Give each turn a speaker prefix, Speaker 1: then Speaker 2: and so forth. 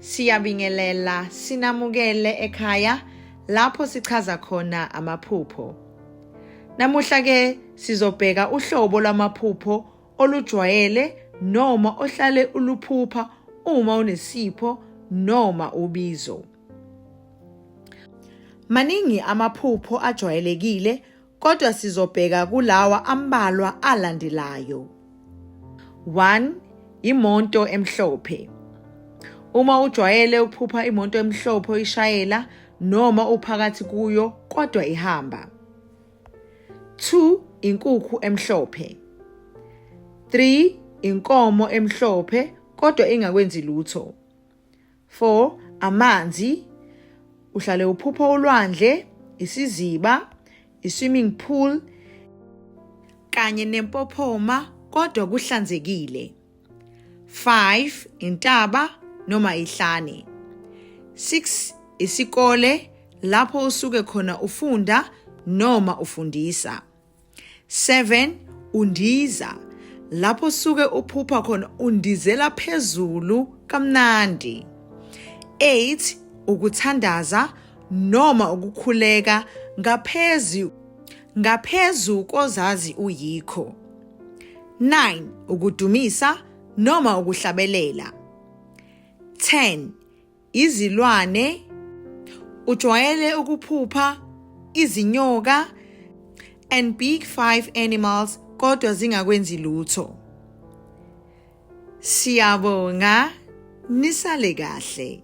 Speaker 1: Siyabingelela, sinamukele ekhaya lapho sichaza khona amaphupho. Namuhla ke sizobheka uhlobo lwamaphupho olujwayele noma ohlale uluphupha uma unesipho noma ubizo. Maningi amaphupho ajwayelekile kodwa sizobheka kulawa ambalwa alandelayo. 1 imonto emhlophe. Uma ujwayele ukuphupha imoto emhlophe oyishayela noma uphakathi kuyo kodwa ihamba. 2 inkukhu emhlophe 3 inkomo emhlophe kodwa ingakwenzi lutho 4 amanzi uhlale uphupha ulwandle isiziba iswimming pool kanye nempophoma kodwa kuhlanzekile 5 intaba noma ihlane 6 isikole lapho usuke khona ufunda noma ufundisa 7 undiza lapho usuke uphupha khona undizela phezulu kamnandi 8 ukuthandaza noma ukukhuleka ngaphezulu ngaphezu kozazi uyikho 9 ukudumisa noma ukuhlabelela 10 izilwane ujwayele ukuphupha izinyoka and big five animals kodwa zingakwenzi lutho siyabonga nisale kahle